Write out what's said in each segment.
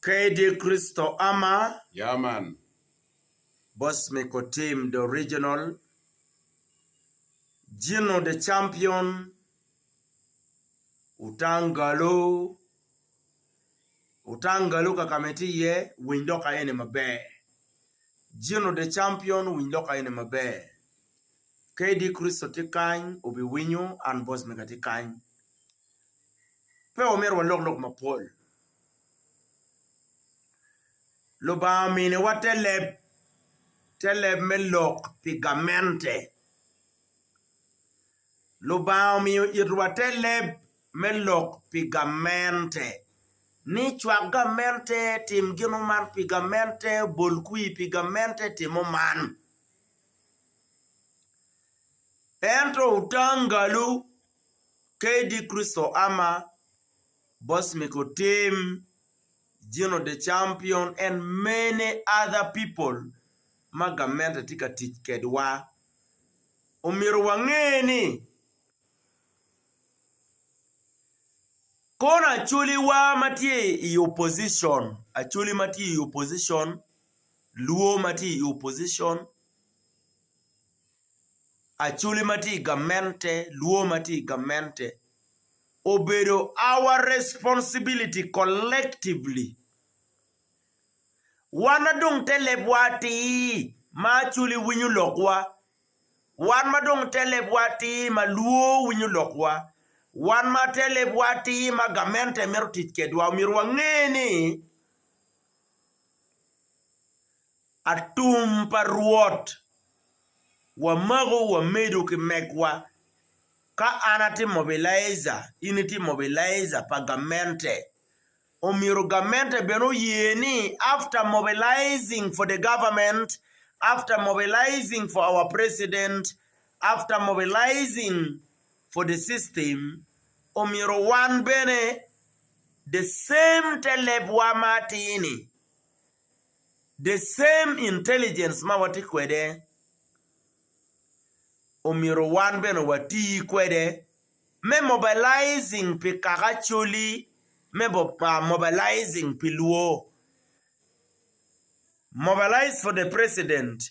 Kadi Kristo ama, Bosmiko Tim the Original, Gino the Champion, Utangalu, Utangalu kaka ma itye iye winy lok aye-ni maber, Gino the Champion winy lok aye-ni maber. Kadi Kricito tye kany, wubiwinyo an bot mega atye kany. Pe wamyero walok lok mapol. Lubanga ominiwa te leb, te leb me lok pi gamente. Lubanga omiyo itwa te leb me lok pi gamente, ni cwak gamente, tim gin man pi gamente, bol kwir pi gamente, timo man. Ento Utangalu, KD Christo Ama, Bosmic Otim, Gino De Champion and many other people ma gamente tye ka tic kedwa. Omyero wange ni kono Acholiwa ma tye i opposition, Acholi ma tye i opposition luwo ma tye i opposition, Acholi ma tye i gamente, luwo ma tye i gamente, obedo our responsibility collectively, wan ma dong te lebwa atir ma Acholi winyo lokwa, wan ma dong te lebwa atir ma luwo winyo lokwa, wan ma te lebwa atir ma gamente mito tic kwedwa, omyero wange ni, Atum pa Rwot, wamako wamedo ki megwa, ka an atimo mobilizer, in itim mobilizer pa gamente, omyero gamente bene oye ni after mobilizing for the government, after mobilizing for our president, after mobilizing for the system, omyero wan bene The same te lebwa ma atir-ni, the same intelligence ma watye kwede, omyero wan bene wati kwede me mobilizing pi kaka Acholi me mobilizing pi lwor, mobilize for the president.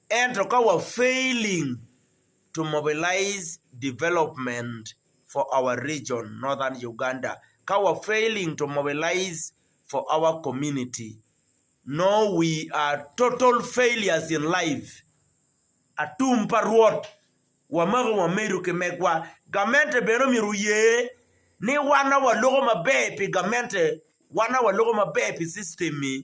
Ento ka wa failing to mobilize development for our region Northern Uganda, ka wa failing to mobilize for our community no we are total failures in life. Atum pa Rwot wamako wamedo ki megwa. Gamente bene omyero oye ni wan awa loko maber pi gamente, wan awa loko maber pi system-mi.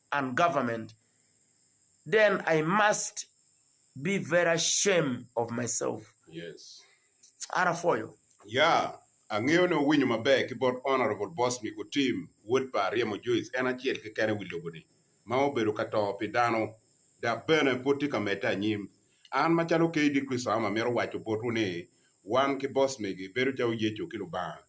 and government then I must be very ashamed of myself. Yes. An apwoyo. Yeah, angeyo ni wuwinyo maber ki bot Honourable Boss me ku team wod pa Aryemo Joyce en acel keken i wi lobo ni ma obedo ka to pi dano dok bene pwod tye ka medde anyim. An macalo KD Kristo Am amito waco botwu ni wan ki Boss megi bedo calo Yecu ki Lubanga.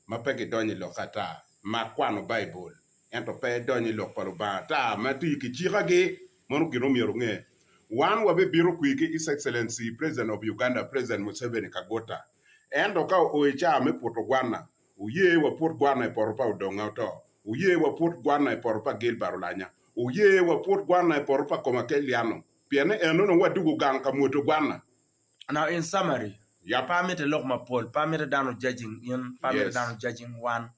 ma pe gidonyo i lokke ata, mak kwano Baibul, ento pe idony i Lok pa Lubanga ata ma iti ki cikagi. Mano gin omyero inge. Wan wabibito kwir ki His Excellency President of Uganda, President Museveni Kaguta. Ento ka oo i caa me puto gwanna, wuye waput gwanna i poto pa Odonga Oto, wuye waput gwanna i poto pa Gilbert Olanya, wuye waput gwanna i poto pa Komakel Liano, pienni eno nongo wadwogo gang ka mwuto gwanna. Now in summary, yah pe amite lok mapol, pe amite dano judging in, pe amite Yes. dano judging wan.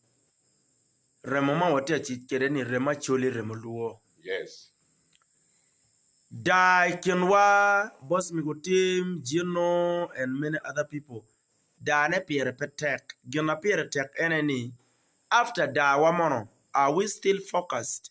Remo ma watye ka tic kwede ni remo Acholi, remo Luo. Yes. Daa i kinwa, boss Migo Tim, Gino and many other people, daa ne pire pe tek. Gin ma pire tek ene ni after daa wa mono, are we still focused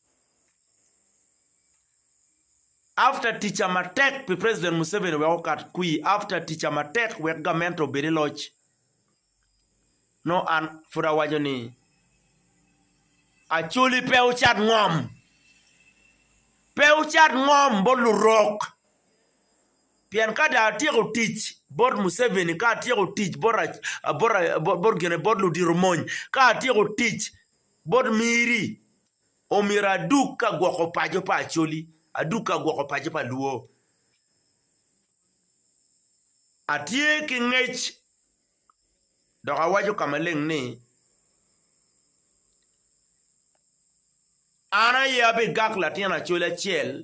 After tica matek pi president Museveni wek okat kwir after tica matek wek gamente obed i loc no an pud awaco ni Acholi pe wucat ngom pe wucat ngom bot lurok pien ka dong atyeko tic bot Museveni ka atyeko tic bot bot gine bot ludito mony ka atyeko tic bot miri Omyero adug ka gwoko paco pa Acholi, adug ka gwoko paco pa Luo. Atye ki ngec dok awaco ka maleng ni, An aye abigak latin Acholi acel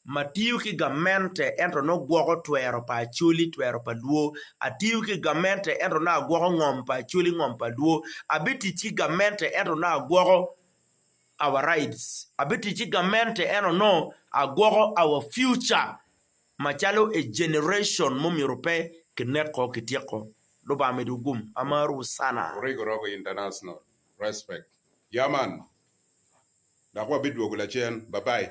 Matiyo ki gamente ento nongo gwoko twero pa Acholi twero pa Lwo. Atiyo ki gamente ento nongo agwoko ngom pa Acholi ngom pa Lwo. Abitic ki gamente ento nongo agwoko our rights. Abitic ki gamente ento nongo agwoko our future macalo a generation mumyero pe kineko, kityeko. Lubanga midu gum. Amarwu sana. Origo Rogo International. Respect. Yaman. dok wabidwogo lacen. Babai.